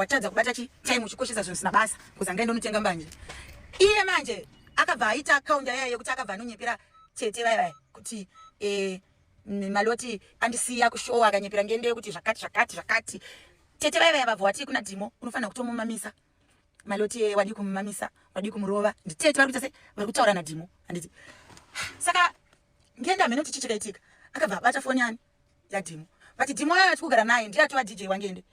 watadza kubata chi time uchikoshesa zvinhu zvisina basa kuza ngaenda unotenga mbanje iye manje akabva aita account yaya yekuti akabva anonyepera tete vaya vaya kuti eh, maloti andisiya kushowa akanyepera ngende yekuti zvakati zvakati zvakati tete vaya vaya vabva watii kuna dhimo unofanira kutomumamisa maloti eh, wadii kumumamisa wadii kumurova nditete vari kuita sei vari kutaura nadhimo handiti saka ngenda mhene kuti chichikaitika akabva abata foni yani yadhimo but dhimo ayo atikugara naye ndiye atova dj wangende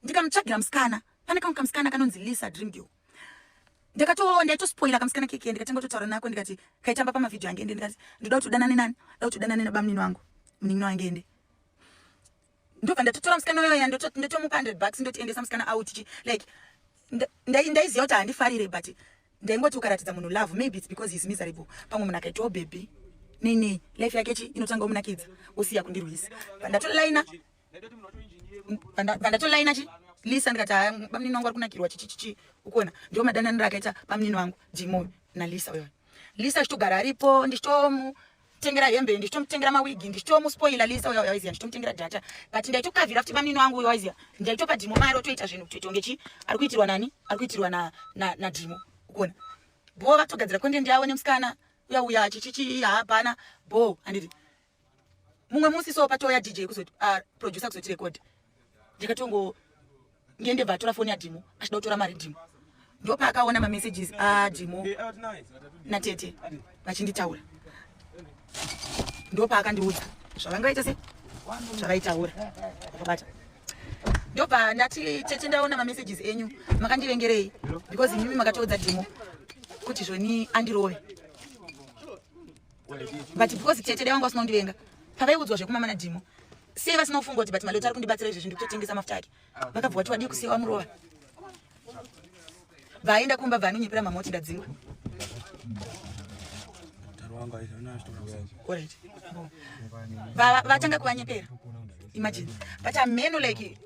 ndikamutsvagira musikana pane kamwe kamusikana kanonzi lisa dream girl ndakatoo ndaitospoila kamusikana keke ndikatanga kutotaura nako ndikati kaitamba pamavhidhio ange ende ndikati ndoda kuti udanane nani ndoda kuti udanane nabamunini wangu munin'ina wange ende ndobva ndatotora musikana uyoya ndotomupa hundred bucks ndotiendesa musikana out chi like ndaiziva kuti handifarire but ndaingoti ukaratidza munhu love maybe its because heis miserable pamwe munhu akaitawo bhebhi nei nei life yake chi inotanga omunakidza osiya kundirwisa ndatoraina pandatolaina chi lisa ndikati haya bamunini wangu ari kunakirwa chichichichi ukuona ndiwo madananiro akaita bamunini wangu jimoyo nalisa uyo lisa achitogara aripo ndichitomu ndichitomutengera hembe ndichitomutengera mawigi ndichitomuspoila lisa uya uya izia ndichitomutengera data but ndaitokavhira futi mamini wangu uya izia ndaitopa dhimo mari otoita zvinhu kuti tonge chi ari kuitirwa nani ari kuitirwa na na na dhimo ukuona bho vatogadzira content yavo nemusikana uya uya chichichi hapana bho anditi mumwe musi so patouya dj kuzoti ah, producer kuzoti record ndikatongo ndiye ndebva atora foni yadhimo achida kutora mari dhimo ndopaakaona mamessages adhimo natete vachinditaura ndopaakandiudza zvavangaita se zvavaitaura vakabata ndobva ndati tete ndaona mamessages enyu makandivengerei because imimi makatoudza dhimo kuti zvoni andirove but because tete dai vanga vasina kundivenga pavaiudzwa zvekumama nadhimo sei vasina kufunga kuti but malota ari kundibatsira izvezvi ndikutotengesa mafuta ake vakabva vati wadii kusiya wamurova bvaaenda kumba bva anonyepera mama kuti ndadzingwa vatanga kuvanyepera imagine but ameno like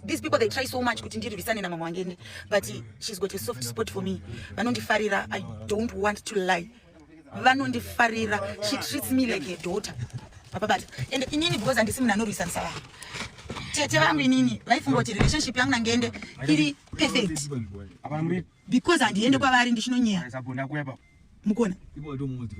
these people they try so much kuti ndirwisane namama wangene but she's got a soft spot for me vanondifarira i don't want to lie vanondifarira she treats me like a daughter vapabata and inini because handisi munhu anorwisanisa vanhu tete vangu inini vaifunga kuti relationship yangu nangeende iri perfect because handiende kwavari ndichinonyeya mukona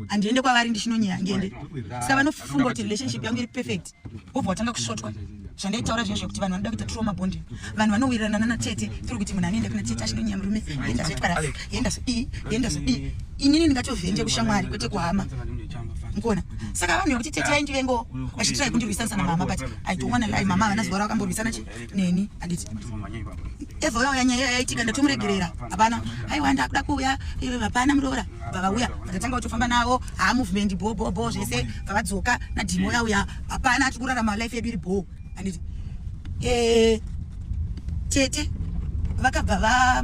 handiende kwavari ndichinonyeya ngende saka vanofunga kuti relationship yangu iri perfect wobva watanga kusvotwa zvandaitaura zviya zvekuti vanhu vanoda kuita trauma bonding vanhu vanowirirana nana tete tiri kuti munhu anoenda kuna tete achinonyaya murume yenda zvoitwa rafi yenda zodii yenda zodii inini ndingatovhenje kushamwari kwete kuhama mukuona saka vanhu vekuti tete vaindivengo vachitirai kundirwisana sana mama but i don't wanna lie mama havana zuva ravakamborwisana chi neni anditi evha uya uya nyaya iya yaitika ndatomuregerera hapana aiwa ndakuda kuuya eh, hapana muroora vavauya vatatanga kutofamba navo haamovement bho bho bho zvese vavadzoka nadhimo uya uya hapana tiri kurarama life yedu iri bho anditi eh, tete vakabva va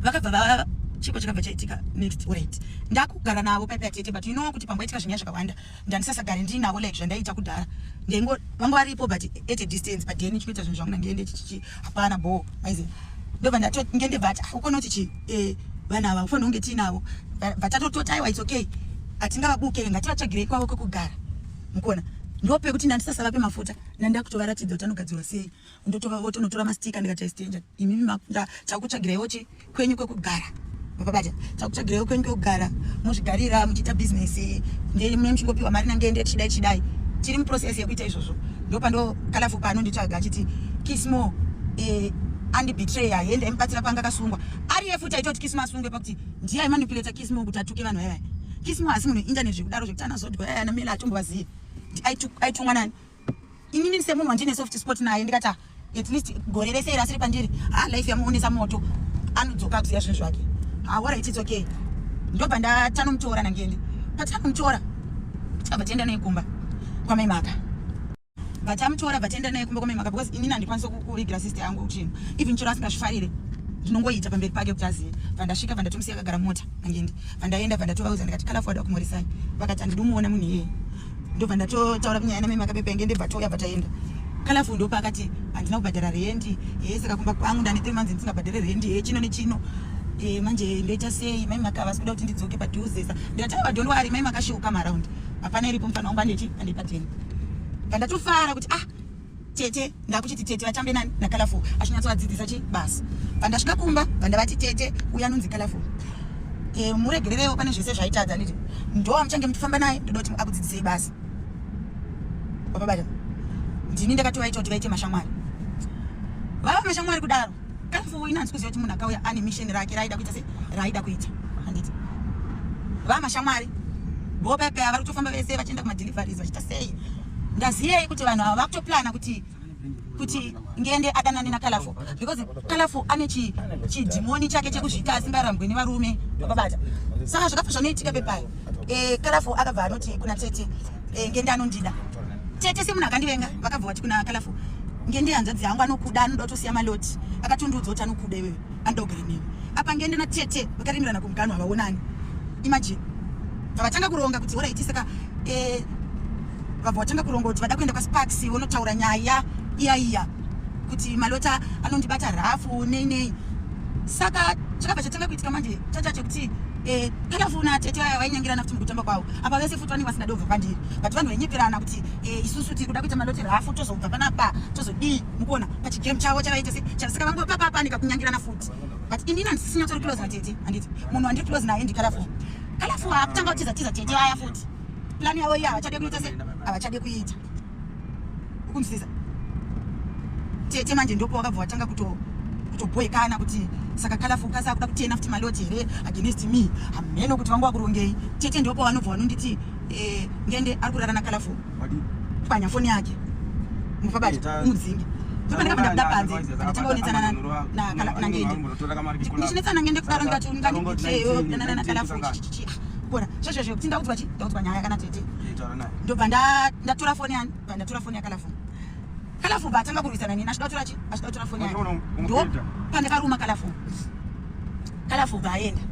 vakabva va chiko chakabva chaitika next right ndakugara navo paipa yatete but you know kuti pamboitika zvinyaya zvakawanda ndandisasagare ndiinavo like zvandaiita kudhara ndaingo vanga varipo but at a distance but then chikuita zvinhu zvangu ndandiende chichichi hapana bho maizi ndobva ndatongende vati ah, ukona kuti chi eh, vana ava ufanira kunge tiinavo vatatotota aiwa its okay hatingavabuke ngativatsvagirei kwavo kwekugara mukuona ndope kuti ndandisasavape mafuta nandakutovaratidza kuti anogadzirwa sei ndotora voti unotora mastika ndikati i stranger imimi makunda takutsvagirai voti kwenyu kwekugara vapabata takutsvagirai kwenyu kwekugara muzvigarira muchiita business ndei mune muchingopiwa mari nangende tichidai tichidai tiri muprocess yekuita izvozvo ndopando kalafu pano nditsvaga achiti kismo eh, andibetray aende aimubatsira panga akasungwa ariye futi aitoti kismo asungwe pakuti ndiye aimanipuleta kismo kuti atuke vanhu vayavaya kismo asi munhu internet zvekudaro zvekuti anazodwa yaya namela atombovazivi aitumwa nani inini semunhu wandine soft spot naye ndikati ah, at least gore rese iri asiri pandiri ha ah, life yamuonesa moto anodzoka akuziva zvinhu zvake haorit ah, its okay ndobva ndatanomutora nangende patanomutora tikabva tienda naye kumba kwamai maka vatamutora vataenda naye kumba kwamai maka because inini handikwanisa kuvigira sister yangu chinhu even chero asingazvifarire ndinongoita pamberi pake kuti azive vandasvika vandatomusiya akagara mota nangende vandaenda vandatovauza ndikati kalafu wada kumurisai vakati handidi umuona munhu iyeye ndobva ndatotaura kunyaya namai makapepenge ndebva touya bva taenda kalafu ndopa akati handina kubhadhara rendi e saka kumba kwangu ndane three months ndisingabhadhare rendi e chino nechino e manje ndoita sei mai maka vasi kuda kuti ndidzoke padhuzesa ndikati aiwa don't worry mai makashuka maround hapana iripo mfana wangu andechi andipateni pandatofara kuti ah tete ndakuchiti tete vatambe nani nacolorful achinyatsovadzidzisa chi basa pandasvika kumba vandavati tete uya anonzi colorful e, muregererewo pane zvese zvaitadza nditi ndoa muchange muchifamba naye ndoda kuti akudzidzisei basa vapabata ndini ndakatovaita kuti vaite mashamwari vava mashamwari kudaro Kamfuwo ina hanzi kuziva kuti munhu akauya ane misheni rake raida kuita se raida kuita handiti vamashamwari vopepeya vari kutofamba vese vachienda kumadeliveries vachiita sei ndaziyei kuti vanhu ava vakutoplana kuti kuti ngende adanane nakalafo because kalafo ane chidhimoni chake chekuzvita asingarambwe nevarume vababata saka zvakabva zvanoitika pepayo eh, kalafu akabva anoti kuna tete eh, ngende anondida tete semunhu akandivenga vakabva vati kuna kalafu ngende hanzvadzi yangu anokuda anoda kutosiya maloti akatondiudza kuti anokuda iwewe anoda kugara newe apa ngende na tete vakaremerana kumuganhu havaonani imagine vavatanga kuronga kuti oraiti saka eh, vabva vatanga kuronga kuti vada kuenda kwasparks vonotaura nyaya iya iya kuti malota anondibata rhafu nei nei saka chakabva chatanga kuitika manje chachache kuti Eh, takafona tete vaya vainyengerana kuti mukutamba kwavo apa vese futi vanenge vasingade kubva pandiri but vanhu vainyeperana kuti eh, isusu tiri kuda kuita maloteri hafu tozobva panapa tozodii mukuona pachigame chavo chavaita se saka vangopapapanika kunyangirana futi but inini handisisinyatsori close natete handiti munhu wandiri close naye ndikalafu kalafu haakutanga kutiza tiza tete vaya futi plani yavo iya havachade kuita se havachade kuita ukunzwisisa tete manje ndopo wakabva watanga kuto kutobhoekana kuti saka kalafu ukasa kuda kutena futi maloti here against me hameno kuti vanga wakurongei tete ndopo vanobva vanonditi eh, ngende ari kurara nakalafu pwanya foni yake mufabati umudzingi ndichinetsanangendeaaa ndobva ndatora foni yani bva ndatora foni yakalafu kalafu bva atanga kurwisana nini achida kutora chi achida kutora foni yake ndo pandakaruma kalafu kalafu bva aenda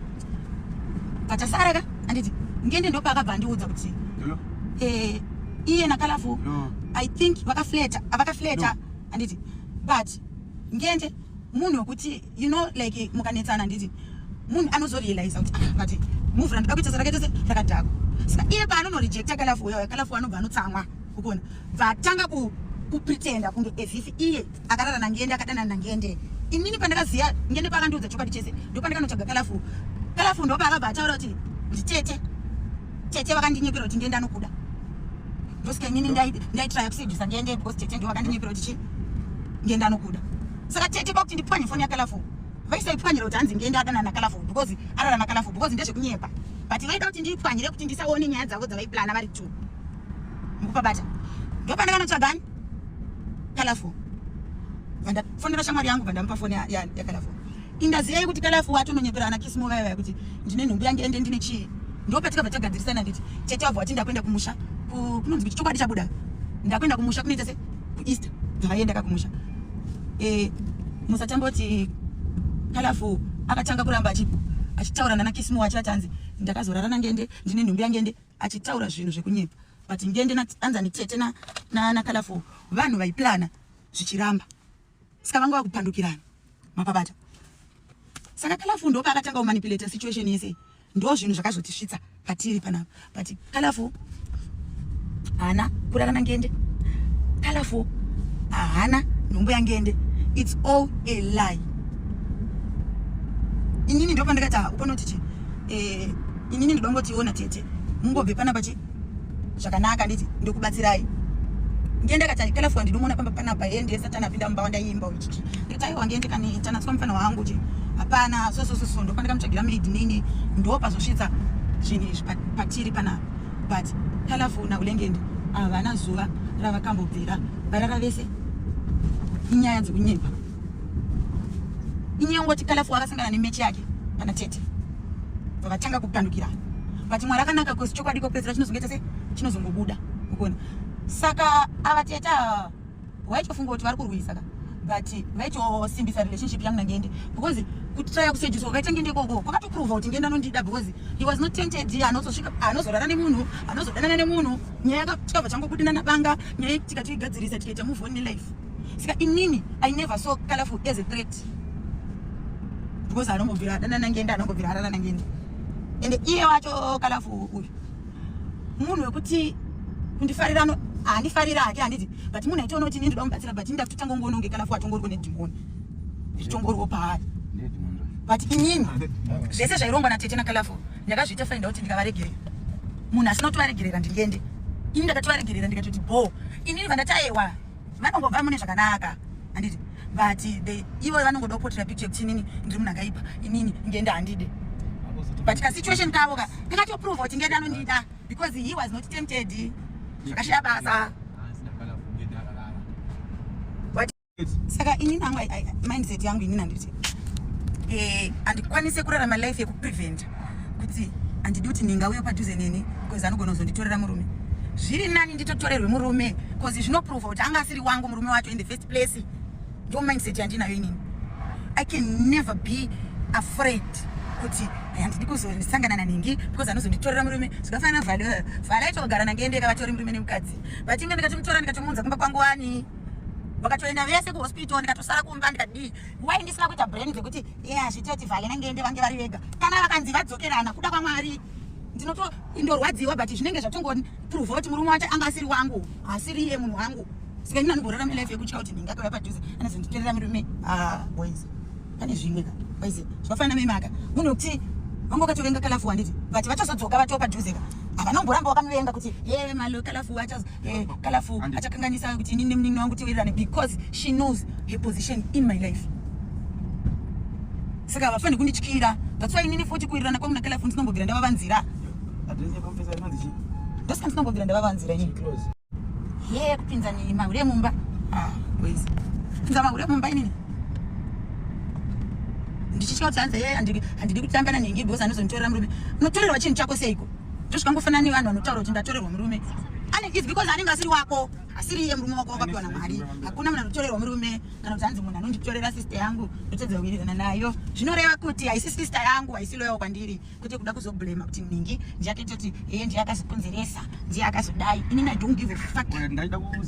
patasara ka anditi ngende ndopaakabva andiudza kuti eh, iye nakalafu i think vakafleta avakafleta anditi but ngende munhu wekuti you know like mukanetsana nditi munhu anozorealiza kuti ah, but move randida kuita sarakaita se rakadhako saka iye paanonorejecta kalafu uya kalafu anobva anotsamwa ukuona bvatanga kupretenda kunge ezif iye akarara nangende akadanana nangende inini pandakaziva ngende pakandiudza chokwadi chese ndopandakanotsvaga kalafu kalafu ndopaakabva ataura kuti nditete tete vakandinyepera kuti ngende anokuda ndosika inini ndaitraya kusedhusa ngende because tete ndo vakandinyepera kuti chi ngende anokuda saka tete kwakuti ndipwanye foni yakalafu vaisaipwanyira kuti hanzi ndiende adana nakalafu because arara nakalafu because ndezvekunyepa but vaida kuti ndiipwanyire kuti ndisaone nyaya dzavo dzavaiplana vari two mukupabata ndopanda vanotsvagani kalafu vandafonera shamwari yangu vandamupa foni yakalafu indaziyai kuti kalafu watononyepera ana kisimo vaya vaya kuti ndine nhumbu yange ende ndine chii ndopatikabva tagadzirisana nditi tete wabva wati ndakuenda kumusha kunonzi kuti chokwadi chabuda ndakuenda kumusha kunoita se kueast vaenda kakumusha e, musatamboti kalafu akatanga kuramba achitaura nana kisimo wacho atanzi ndakazorara nangende ndine nhumbi yangende achitaura zvinhu zvekunyepa but ngende anzani tete nakalafu vanhu vaiplana zvichiramba Saka vanga vakupandukirana. Mapabata. Saka Kalafu ndopa akatanga kumanipulate situation yese. Ndo zvinhu zvakazotisvitsa patiri panapa. But Kalafu hana kurara nangende. Kalafu hana nhumbu yangende. It's all a lie. Inini ndopandakati ukonoti chi. Eh, inini ndodongotiona tete. Mungobve panapa chi. zvakanaka nditi ndokubatsirai ndiye ndakati kala fwa ndinomuona pamba panapa ye ndiye satani apinda mumba wandaimba uchi ndikati aiwa ndiye ndikaniitanatswa mufana wangu chi hapana sosososo ndokwandaika mutsvagira maid nini ndopazosvitsa zvinhu izvi patiri panapa but kala fwa naulengende havana zuva ravakambobvira varara vese inyaya dzekunyepa inyaya ungoti kala fwa akasangana nemechi yake kana tete vakatanga kupandukira but mwari akanaka kosi chokwadi kopedzera chinozongoita se chinozongobuda ukuona saka ava teta waitofunga kuti vari kurwisa ka but vaitosimbisa relationship yangu nangeende because kutraya kusejiswa kwakaita ngende ikoko kwakatoprova kuti ngende anondida because he was not tented anozosvika anozorara nemunhu anozodanana nemunhu nyaya yakatava changobuda nanabanga nyaya tikatoigadzirisa tikaita move on nelife saka inini i never saw colorful as a threat because anongobvira adananangenda anongobvira adananangenda ende iye wacho colorful uyu munhu wekuti kundifarira no handifarira hake handiti but munhu aitoona kuti ini ndoda mubatsira but ini ndakutotanga kungoona kunge colorful atongoriko nedhimoni zvichongorwo paari but inini zvese zvairongwa natete nacolorful ndakazviita fainda kuti ndikavaregerera munhu asina kutovaregerera ndingende ini ndakatovaregerera ndikatoti bho inini vandataewa vanongobva mune zvakanaka handiti but the ivo vanongoda kupotera picture yekuti inini ndiri munhu akaipa inini ngenda handide but kasituation kavo ka kakatoprova kuti ngenda anondida because he was not tempted zvakashaya basa saka ini nangu mindset yangu ini nanditi eh, handikwanise kurarama life yekupreventa kuti handidi kuti ninga uye padhuze neni bcause anogona kuzonditorera murume zviri nani nditotorerwe murume bcause zvinoprova kuti anga asiri wangu murume wacho in the first place ndo mindset yandinayo inini i can never be afraid kuti handidi kuzosangana naningi because anozonditorera murume zvikafanana vhale eh, vhale aitogara nangeendeka vatori murume nemukadzi but inge ndikatomutora ndikatomuunza kumba kwangu wani vakatoenda vese kuhospital ndikatosara kumba ndikadii why ndisina kuita brain dzekuti ye hazvitoti vhale nangende vange vari vega kana vakanzi vadzokerana kuda kwamwari ndinoto indorwadziwa but zvinenge zvatongoprova kuti murume wacho anga asiri wangu asiri iye munhu wangu sika ini anogorora milife yekutya kuti ndinge akauya padhuze anozonditerera murume ah, boys pane zvimwe ka boys zvakafanana memaka munhu wekuti vanga ukatovenga kalafu wanditi but vachazodzoka vatoo padhuze ka havana kumboramba wakamuvenga kuti ye malo kalafu wachazo eh, kalafu achakanganisa kuti inini nemunin'ina wangu tiwirirane because she knows her position in my life saka havafaniri kundityira that's why inini futi kuwirirana kwangu nakalafu ndinombobvira ndavavanzira ndosika ndinombobvira ndavavanzira ini ye kupinza nini mahure emumba ah, pinza mahure emumba inini ndichitya kuti hanzi ye handidi kutambana nengi because anozonditorera murume unotorerwa chinhu chako seiko Ndizvo zvikangofanana nevanhu vanotaura kuti ndatorerwa murume. Ane is because anenge asiri wako. Asiri iye murume wako wakapiwa naMwari. Hakuna munhu anotorerwa murume kana kuti hanzi munhu anonditorera sister yangu ndotadza kuwirirana nayo. Zvinoreva kuti haisi sister yangu haisi loyal kwandiri kwete kuda kuzoblema kuti ningi ndiyatoita kuti iye ndiye akazokonzeresa ndiye akazodai. Inini I don't give a fuck.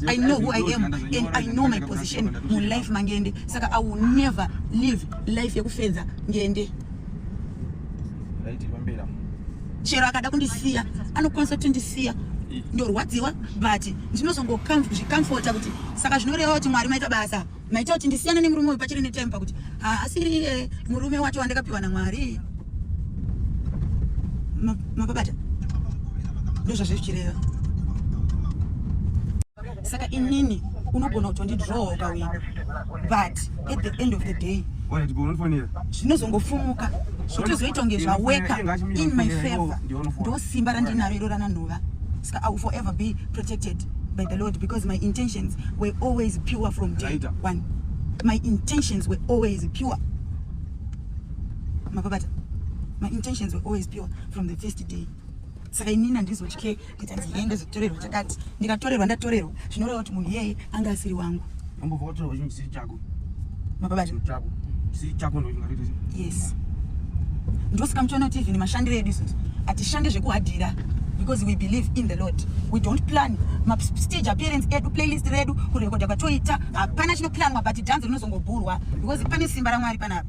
I know who I am and I know my position mu life mangende. Saka I will never live life yekufenza ngende. Right, Bambera. chero akada kundisiya anokwanisa kutondisiya ndorwadziwa but ndinozongozvikamfota kuti saka zvinoreva kuti mwari maita basa maita kuti ndisiyana nemurume uyu pachiri netime pakuti haasiri iye murume wacho wandakapiwa namwari mapabata ndozvazve zvichireva saka inini unogona kutondidrowa ukawina but at the end of the day zvinozongofumuka zvotozoita kunge zvaweka in my favor ndo simba randinaro iro rananhova saka i will forever be protected by the lord because my intentions were always pure from day one my intentions were always pure mapabata my intentions were always pure from the first day saka inini handizotye ndikanzi yee ndozotorerwa chakati ndikatorerwa ndatorerwa zvinoreva kuti munhu iyeye anga asiri wangu yes ndosika muchiona kuti even mashandiro edu isusu hatishande zvekuhadhira because we believe in the lord we don't plan mastage appearance edu playlist redu kurekodha kwatoita hapana chinoplanwa but dhanzi rinozongobhurwa because pane simba ramwari panapa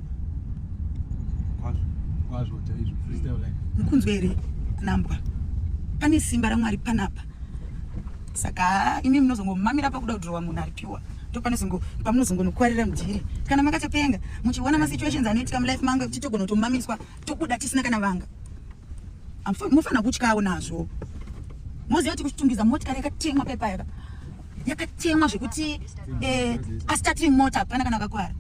mukunzwa here nambwa pane simba ramwari panapa saka imi munozongomamira pakuda kudhurwa munhu aripiwa ndopanezongo pamunozongonokwarira mudhiri kana makatopenga muchiona masituations anoitika mulife mangu ekuti togona kutomamiswa tobuda tisina kana vanga mofanira kutyawo nazvo moziva kuti kuchitungiza motikari yakatemwa pepayaka yakatemwa zvekuti eh, astarting mota hapana kana akakwara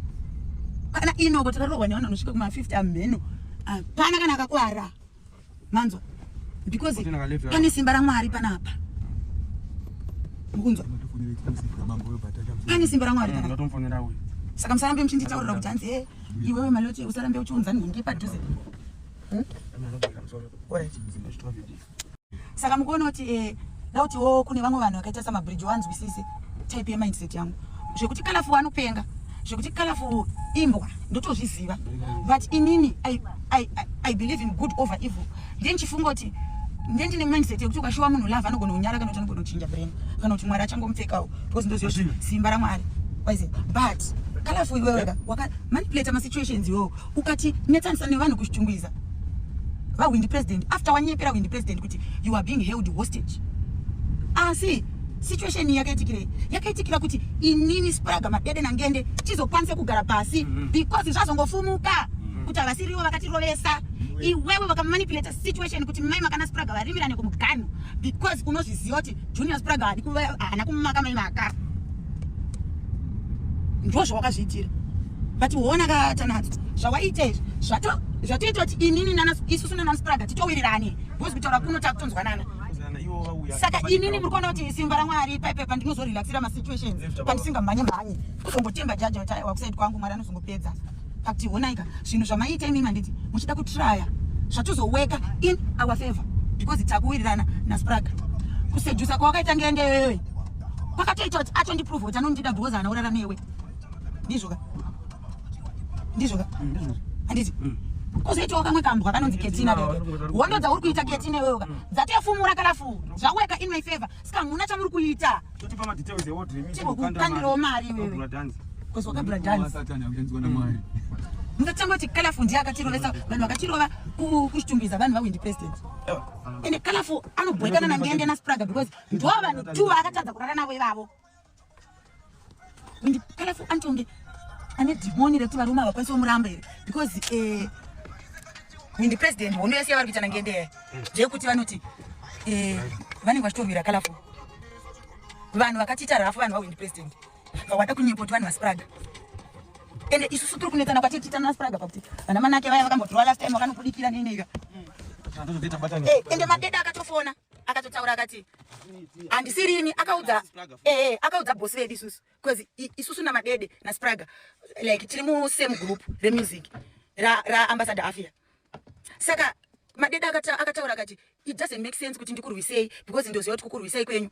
kana inoko takarohwa nevanhu vanosvika kuma50 amheno hapana kana akakwara manzwa because pane simba ramwari panapa mukunzwa pane simba ramwari mm, saka musarambe muchinditaurira kuti hanzi e iwewe malote usarambe uchiunza nhingi padhuze hmm? saka mukuona kuti eh, dauti wo oh, kune vamwe vanhu vakaita samabridge wanzwisise type yemindset yangu zvekuti kalafu wanopenga zvekuti kalafu imbwa ndotozviziva but inini I, I, I, i believe in good over evil ndiye ndichifunga kuti ndiye ndine mindset yekuti ukashuwa munhu love anogona kunyara kana kuti anogona kuchinja brain kana kuti mwari achangomupfekawo because ndoziva kuti simba ramwari but kalafu iweweka wakamanipulata masituations iwowo ukati netsanisa nevanhu kuchitungwiza vahwindi president after wanyepera hwindi president kuti you are being held hostage asi situation iyi yakaitikirei yakaitikira kuti inini spraga madede nangende tizokwanise kugara pasi mm -hmm. because zvazongofumuka mm -hmm. kuti havasiriwo vakatirovesa iwewe vakamanipulata situation kuti mai makana spraga varimirane kumuganhu because unozviziva kuti Junior Spraga hadi kuva hana kumaka mai maka. Ndozvo wakazviitira. But uona ka tanadzo. Zvawaita izvi zvato zvatoita kuti inini nana isusu nana Spraga titowirirane. Because kutaura kuno takutonzwanana. Saka inini muri kuona kuti simba raMwari paipe pandinozorelaxira masituations pandisingamhanye mhanye kuzongotemba jaji wakusaid kwangu Mwari anozongopedza. But honaika zvinhu zvamaiita imi manditi muchida kutraya zvatozoweka in our favor because takuwirirana naspraga kusejusa kwawakaita ngende yoyoyo kwakatoita kuti atondiprove kuti anondida because anaurara newe ndizvoka ndizvoka handiti mm, mm. kozoitawo kamwe kambwa kanonzi ketina hondo dzauri kuita ketina iweyoka mm. dzatefumura kalafu zvaweka in my favor Ska muna chamuri kuita. Totipa ma details e order mimi. Chiko kukandirawo mari wewe. Kura dance. Kozi wakabura dance. Satani akenzwa na mari. Mukatanga kuti colorful ndiye akatirovesa vanhu vakatirova kuchitumbiza vanhu vawindi president. Ende colorful anobhoikana na ngende na spraga because ndo vanhu two akatadza kurara navo ivavo. and careful antonge ane dhimoni rekuti varume havakwanisi vomuramba here because eh, and president hondo yese yavari kuitana ngendeya ndeyekuti vanoti eh, vanenge vachitorwira kalafu vanhu vakatiita rafu vanhu vawind president vawada kunyepoti vanhu vaspraga ende isusu tiri kunetsana kwati tiitana naspraga pakuti vana manake vaya vakambotirwa last time vakanokudikira neneika eh, ende madeda akatofona akatotaura akati handisirini akaudza ee eh, akaudza bosi vedu isusu bcause isusu namadede naspraga like tiri musame group remusic raambassador ra afia saka madede akataura akati it doesn't make sense kuti ndikurwisei because ndoziva kuti kukurwisei kwenyu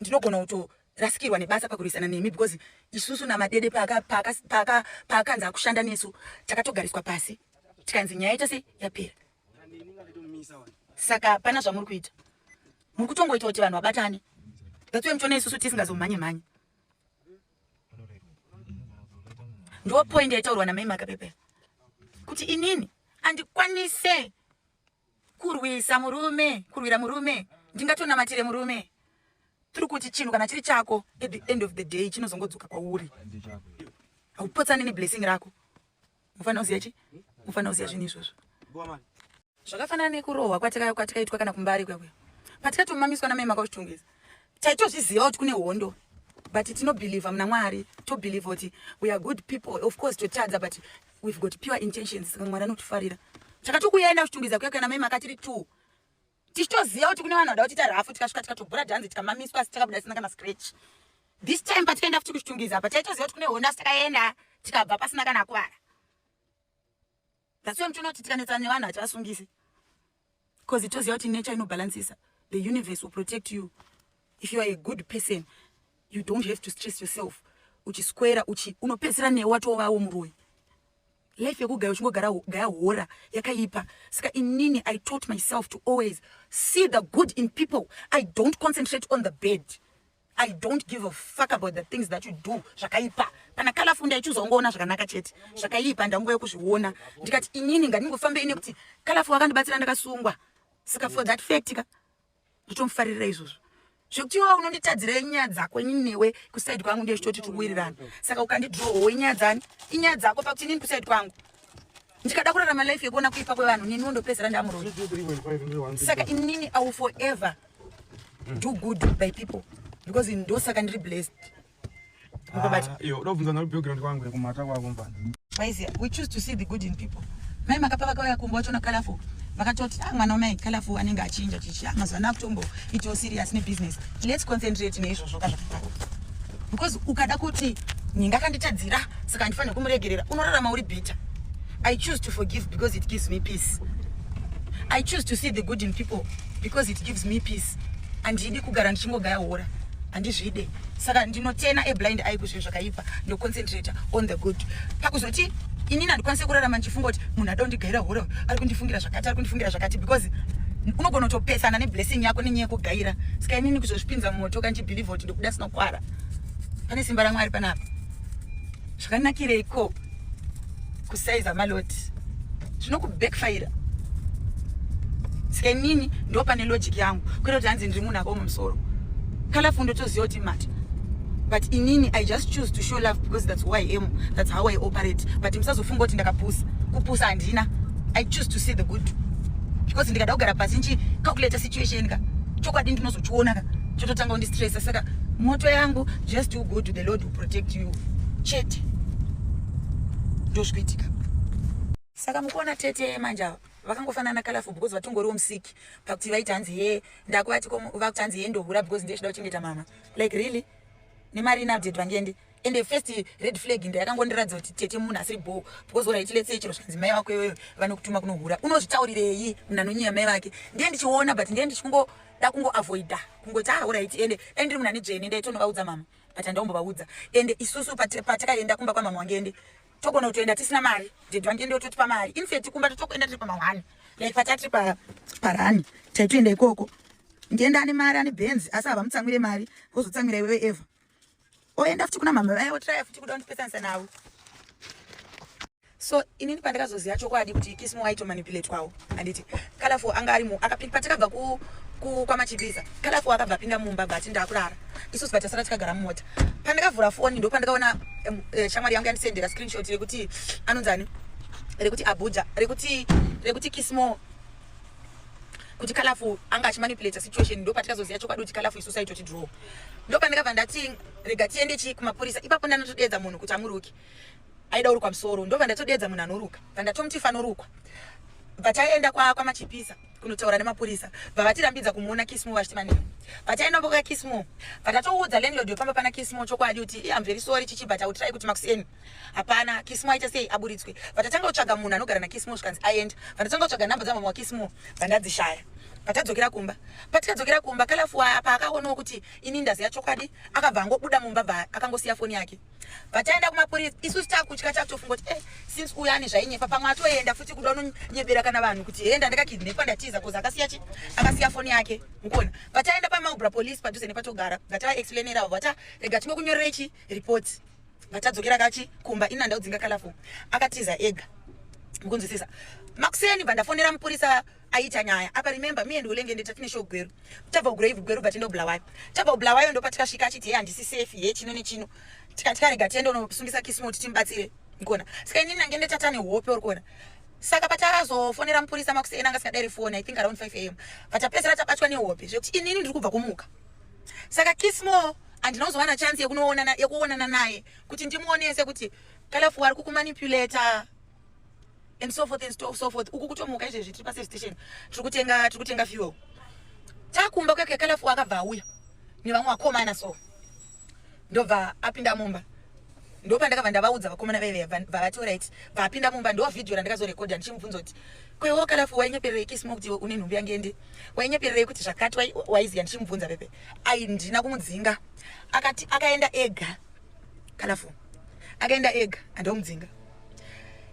ndinogona kutorasikirwa nebasa pakurwisana nemi because isusu namadede paakanzi akushanda nesu takatogariswa pasi tikanzi nyaya yachose yapera saka hapana zvamuri kuita muri kutongoita kuti vanhu vabatane that's why muchiona isusu tisingazomhanye mhanye ndo point yaitaurwa namai makapepe kuti inini andikwanise kurwisa murume kurwira murume ndingatonamatire murume tiri kuti chinhu kana chiri chako at the end of the day chinozongodzoka kwauri haupotsani neblessing rako mufanira kuziva chi mufanira kuziva zvinhu izvozvo zvakafanana nekurohwa kwatikaitwa kana kumbari kwekuya patikatomamiswa namai makauzvitongesa taitozviziva kuti kune hondo but tinobhilivha muna mwari tobhilivha kuti we are good people of course totadza but we've got pure intentions saka mwari anotifarira takatokuyaenda kuchitungidza kuya kuya namai makatiri two tichitoziva kuti kune vanhu vada kutiita rafu tikasvika tikatobhura dhanzi tikamamiswa asi takabuda tisina kana scratch this time patikaenda futi kuchitungiza apa taitoziva kuti kune honda asi takaenda tikabva pasina kana akuvara that's why mutonoti tikanetsana nevanhu hativasungisi because itoziva kuti nature inobalancisa the universe will protect you if you are a good person you don't have to stress yourself uchiswera uchi unopedzisira newe watovawo muroyi Life yekugaya uchingogara gaya hora yakaipa. Saka inini I taught myself to always see the good in people. I don't concentrate on the bad. I don't give a fuck about the things that you do zvakaipa. Kana kala funda ichizongoona zvakanaka chete. Zvakaipa ndanguva yekuzviona. Ndikati inini ngandingofambe ine kuti kala fu akandibatsira ndakasungwa. Saka for that fact ka nditomufaririra izvozvo zvekuti iwa unonditadzira inyaya dzako inini newe kusaidi kwangu ndiye chitoti tikuwirirana saka ukandidrohowo inyaya dzani inyaya dzako pakuti inini kusaidi kwangu ndikada kurarama life yekuona kuipa kwevanhu neniwo ndopedzera ndamuroi saka inini i will forever do good by people because ndosaka ndiri blessed Ah, yo, ndobvunza nalo background kwangu kumata kwako mfana. Maizi, we choose to see the good in people. Mai makapa vakauya kumba wacho na colorful. Vakatoti ah mwana wamai colorful anenge achinja chichi. Ah mazana kutombo it was serious ne business. Let's concentrate ne izvo zvoka zvakadaro. Because ukada kuti ninga kanditadzira saka ndifanira kumuregerera unorarama uri bitter. I choose to forgive because it gives me peace. I choose to see the good in people. because it gives me peace handidi kugara ndichingogaya hora handizvide saka ndinotena ablind eye kuzvinhu zvakaipa ndoconcentrata on the good pakuzoti inini handikwanise kurarama ndichifunga kuti munhu ada kundigaira hora ari kundifungira zvakati ari kundifungira zvakati because unogona kutopesana neblessing yako nenyaya yekugaira saka inini kuzozvipinza mumoto kandichibhilivha kuti ndikuda sinokwara pane simba ramwari panapa zvakanakireiko kusaiza maloti zvinokubackfire skenini ndo pane logic yangu kwete kuti hanzi ndiri munhu akaoma musoro kalafundo toziva kuti mati but inini i just choose to show love because that's who i am that's how i operate but musazofunga kuti ndakapusa kupusa handina i choose to see the good because ndikada kugara pasi nchi calculate situation ka chokwadi ndinozochiona ka chototanga kundistressa saka moto yangu just to go to the lord protect you chete ndozvikuitika saka mukuona tete manje ava vakangofanana colorful because vatongoriwo musiki pakuti vaiti hanzi he ndakuvati vakuti hanzi he ndohura because ndezvida kuchengeta mama like really nemari inaupdate vangende and the first red flag ndo yakangondiratidza kuti tete munhu asiri bho because orit lets say chero zvanzi mai vako iyoyo vanokutuma kunohura unozvitaurirei munhu anonyaya mai vake ndiye ndichiona but ndiye ndichikungoda kungoavoida kungoti aorit ah, ende dai ndiri munhu ane dzvene ndaitonovaudza mama but andaombovaudza ende isusu patakaenda kumba kwamama wange ende togona kutoenda tisina mari ded wange ende ototipa mari infet kumba totokuenda tiri pamahwani like patatiri parani taitoenda ikoko ndienda ane mari ane benzi asi havamutsamwire mari vozotsamwira iwewe eva oenda futi kuna mama vaye otiraya futi kuda undipesanisa navo so inini pandakazoziva chokwadi kuti kismo aitomanipulatewawo anditi kalafu anga ari patakabva kwamachipisa kalafu akabva apinda mumba but ndakurara isusu vatasara tikagara mumota pandakavhura foni ndo pandakaona eh, shamwari yangu yandisendera screenshot rekuti anonzani rekuti abuja rekuti rekuti kismo kuti kalafu anga achimanipulata situation ndo patikazoziva chokwadi kuti kalafu isu saitoti draw ndo pandakabva ndati rega tiende chii kumapurisa ipapo ndanotodeedza munhu kuti amuruki aida urukwa musoro ndobva ndatodeedza munhu anoruka bva ndatomuti fanorukwa bva taenda kwamachipisa kunotaura nemapurisa bva vatirambidza kumuona kismo vachiti manei bva taenda mboka kismo bva tatoudza landlord wepamba pana kismo chokwadi kuti i am very sorry chichi but autirai kuti makuseni hapana kismo aita sei aburitswe bva tatanga kutsvaga munhu anogara nakismo zvikanzi aenda bva ndatanga kutsvaga nhamba dzamama wakismo bva ndadzishaya patadzokera kumba patikadzokera kumba kalafu waya paakaonawo kuti ini ndaziya chokwadi akabva angobuda mumba bva akangosiya foni yake pataenda kumapurisa isusu takutya takutofunga kuti eh, since uyo ane zvainyepa pamwe atoenda futi kuda unonyebera kana vanhu kuti hee ndandikakidnepa ndatiza koz akasiya chi akasiya foni yake mukona pataenda pamaubra police padhuze nepatogara ngataexplainera avo vata rega tinge kunyorerei chi report ngatadzokera kachi kumba ini andaudzinga kalafo akatiza ega mukunzwisisa makuseni bva ndafonera mupurisa aita nyaya apa remember me and ulenge ndita finish ogweru tabva kugrave gweru bva tindo bulawayo tabva kubulawayo ndopa tikasvika achiti he handisi safe he chino nechino tikati karega tiende unosungisa kisimo kuti timubatsire ngona saka ini nange ndetata nehope uri kuona saka patakazofonera mupurisa makuseni anga sikadairi foni i think around 5 am patapedzera tabatwa nehope zvekuti inini ndiri kubva kumuka saka kismo handina kuzovana chansi yekuonana naye kuti ndimuonese kuti kalafu wari kukumanipulator and so forth and so forth uku kutomuka izvezvi tiri paservice station tiri kutenga tiri kutenga fuel takumba kwake kalafu akabva auya nevamwe vakomana so ndobva apinda mumba ndopandakabva ndavaudza vakomana vaive vavati orit vapinda mumba ndo vhidhiyo randakazorekodha ndichimubvunza kuti kwewo kalafu wainyepererei kisma kuti une nhumbi yange ndi wainyepererei kuti zvakati waiziva ndichimubvunza pepe ai ndina kumudzinga akati akaenda ega kana fo akaenda ega andomudzinga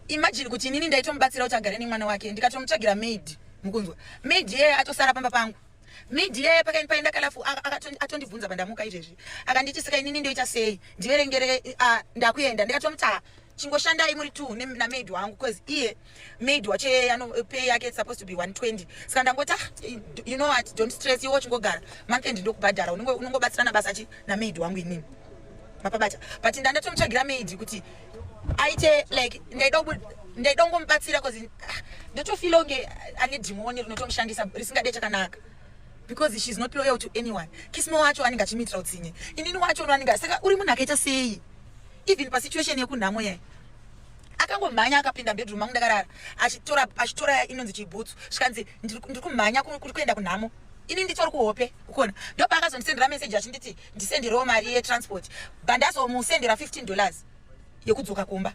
imagine kuti inini ndaitomubatsira kuti agare nemwana wake ndikatomutsvagira maid mukunzwa maid yeye atosara pamba pangu maid yeye pakaini paenda kalafu atondibvunza pandamuka izvezvi akanditi saka inini ndoita sei ndiverengere ndakuenda ndikatomutaa chingoshandai muri two namaid wangu bcause iye maid wacho yeye ano pay yake it's supposed to be 120 saka ndangoti ah you know what don't stress iwe uchingogara month end ndokubhadhara unongobatsirana basa chi namaid wangu inini mapabata but ndandatomutsvagira maid kuti aite like ndaida ndaida kungomubatsira bcause ah, ndotofila kunge ane dhimoni rinotomushandisa risingade chakanaka because she's not loyal to anyone kismo wacho anenge achimiitira utsinye inini wacho no anenge saka uri munhu akaita sei even pasituation yekunhamo yai akangomhanya akapinda bedroom mangu ndakarara achitora achitora inonzi chibhutsu zvikanzi ndiri kumhanya kuri kuenda kunhamo ini nditori kuhope ukona ndopa akazondisendera meseji achinditi ndisenderewo mari yetransport bandazomusendera 15 dollars yekudzoka kumba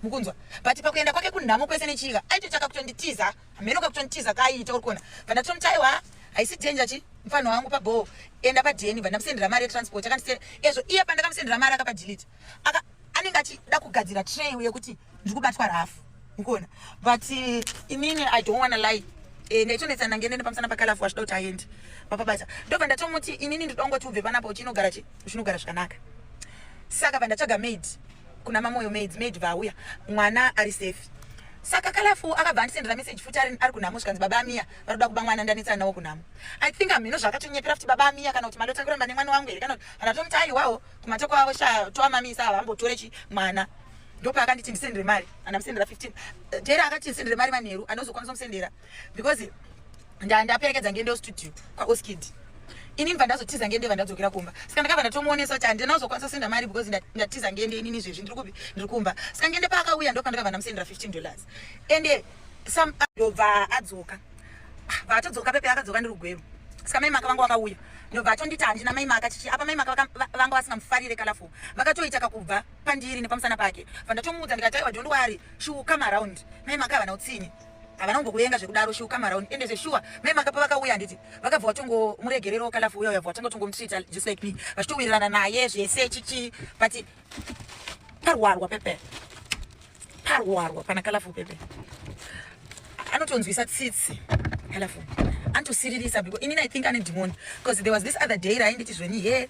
mukunzwa but pakuenda kwake kunhamo kwese nechiika aitochaka kutonditiza hameno kakutonitiza kaayiita uri kuona pandatoniti aiwa haisi danger chi mfana wangu pabhoo enda padeni vandamusendera mari yetransport akandise ezvo iye pandakamusendera mari akapadelete aka anenge achida kugadzira tray uye kuti ndiri kubatwa rafu ukuona but eh, inini i don't wanna lie eh, ndaitonetsana ngende nepamusana pakalafu wachida kuti aende papabasa ndobva ndatomuti inini ndida ungoti ubve panapa uchinogara chi uchinogara zvakanaka saka vandatsvaga maid kuna mamoyo maid maid vauya mwana ari safe saka kalafu akabva andisendera message futi ari ari kunhamo zvikanzi baba amiya vanoda kuba mwana ndanetsana nawo kunhamo i think hamheno zvakatonyepera futi baba amiya kana kuti mali otanga kuramba nemwana wangu here kana kuti kana tomuti aiwawo kumate kwavo sha toamamisa ava vambotore chi mwana ndopaakanditi ndisendere mari andamusendera 15 eh, jera akati ndisendere mari manheru anozokwanisa musendera because ndandaperekedza ngende studio kwaoskid ini ndibva ndazotiza ngende ndibva ndadzokera kumba saka ndakabva ndatomuonesa kuti handina kuzokwanisa kusenda mari because ndatiza ngende inini zvezvi ndiri kupi ndiri kumba saka ngende paakauya ndopandakabva ndamusendera 15 dollars ende some ndobva adzoka vatodzoka pepe akadzoka ndiri kugweru saka mai maka vanga vakauya ndobva atonditi handina mai maka chichi apa mai maka vanga vasingamufarire kalafo vakatoita kakubva pandiri nepamusana pake vandatomuudza ndikataiwa dondwari she will come around mai maka havana utsinye havana kumbokuvenga zvekudaro shuka marauni ende zveshuwa mai makapa vakauya handiti vakabva vatongomuregerero kalafu uya uyabva vatanga kutongomutreata just like me vachitowirirana naye zvese chichi but parwarwa pepe parwarwa pana kalafu pepe anotonzwisa tsitsi kalafu anotosiririsa because inini i think ane dhimoni because there was this other day rainditi zveni here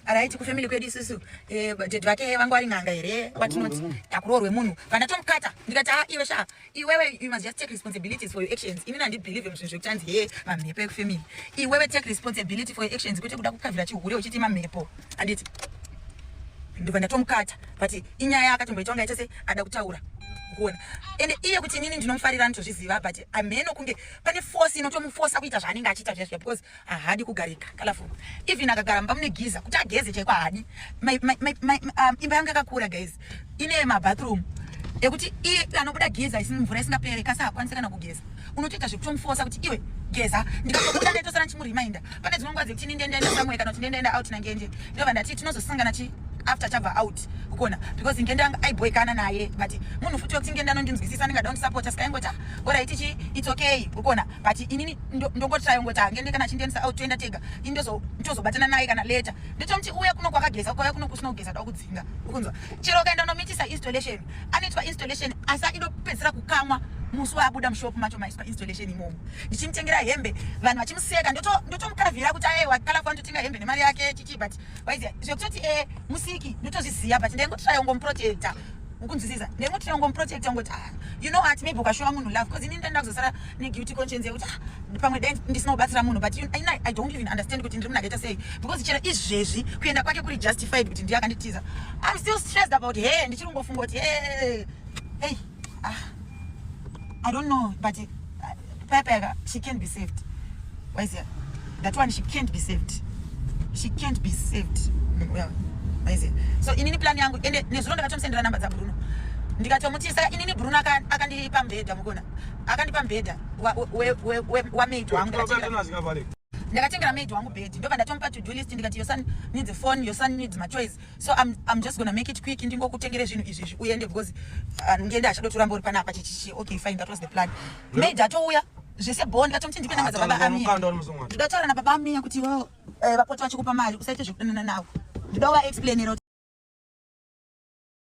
araiti kufamily kwedu isusu eh, ded vake vangu vari n'anga here watinoti takuroorwe munhu kana tomukata ndikati a ah, iwe shaa iwewe you must just take responsibilities for your actions inini handibelieve muzvinhu zvekuti hanzi hee mamhepo ekufamily iwewe take responsibility for your actions kwete kuda kukavira chihure uchiti mamhepo handiti ndobva ndatomukata but inyaya akatomboita kunge aita se ada kutaura kuona ende iye kuti inini ndinomufarira nditozviziva but amheno kunge pane force inotomufosa kuita zvaanenge achiita zviya zviya because ahadi kugarika kalafu even akagara mumba mune giza kuti ageze chaiko ahadi um, imba yangu yakakura guys ine mabathroom ekuti iye anobuda geza isini mvura isingapere kasi hakwanisi kana kugeza unotoita zvekutomufosa kuti iwe geza ndikakubuda ndaitosara ndichimuriminda pane dzimwe nguva dzekuti ndindendaenda samwe kana kuti ndendaenda out nangenje ndova ndati tinozosangana chi after chabva out kukona because ngenda yanga aiboikana naye but munhu futi wekuti ngenda anondinzwisisa ndingada kundisapota sikaingoti ah, oraiti chi its okay kukona but inini ndongotirai ungoti hange ndi kana chindiendisa out toenda tega ini ndozo ndozobatana naye kana later ndotomuti uya kuno kwakageza kwauya kuno kusina kugeza da kudzinga ukunzwa chero ukaenda unomitisa installation anoitwa installation asi aidopedzisira kukamwa musi waabuda mushop macho maiswa installation imomo ndichimutengera hembe vanhu vachimuseka ndotomukavhira kuti aye wakalafa ndotenga hembe nemari yake chichi but waiziya zvekutoti e eh, musiki ndotozviziva but ndaingotirai ungomuprotecta ukunzwisisa ndaingotirai ungomuprotecta ungoti ah, you know what maybe ukashowa munhu love bcause ini ndaenda kuzosara ne guilty conscience yekuti ah, pamwe dai ndisina kubatsira munhu but i don't even understand kuti ndiri munakaita sei because chero izvezvi kuenda kwake kuri justified kuti ndiye akanditiza i'm still stressed about he ndichiri kungofunga kuti hey, hey, ah, i don't know but uh, pepeka she can't be saved waizia that one she can't be saved she can't be saved well, waizia so inini plan yangu ende nezuro ndakatomusendera namba dzabruno ndikatomutisa inini bruno akandipa mbhedha mukona akandipa mbhedha wamaid wangu ndakatengera maid wangu bed ndobva ndatomupa to do list ndikati your son needs a phone your son needs my choice so I'm, i'm just gonna make it quick ndingokutengere zvinhu izvi izvi uende because uh, ngende achadotoramba uri panapa chichichi okay fine that was the plan maid atouya zvese bho ndikatomuti ndipe namba dzababa amiya ndikataura nababa amiya kuti wo eh, vapoti vachikupa mari usaite zvekudanana navo ndida uvaexplainira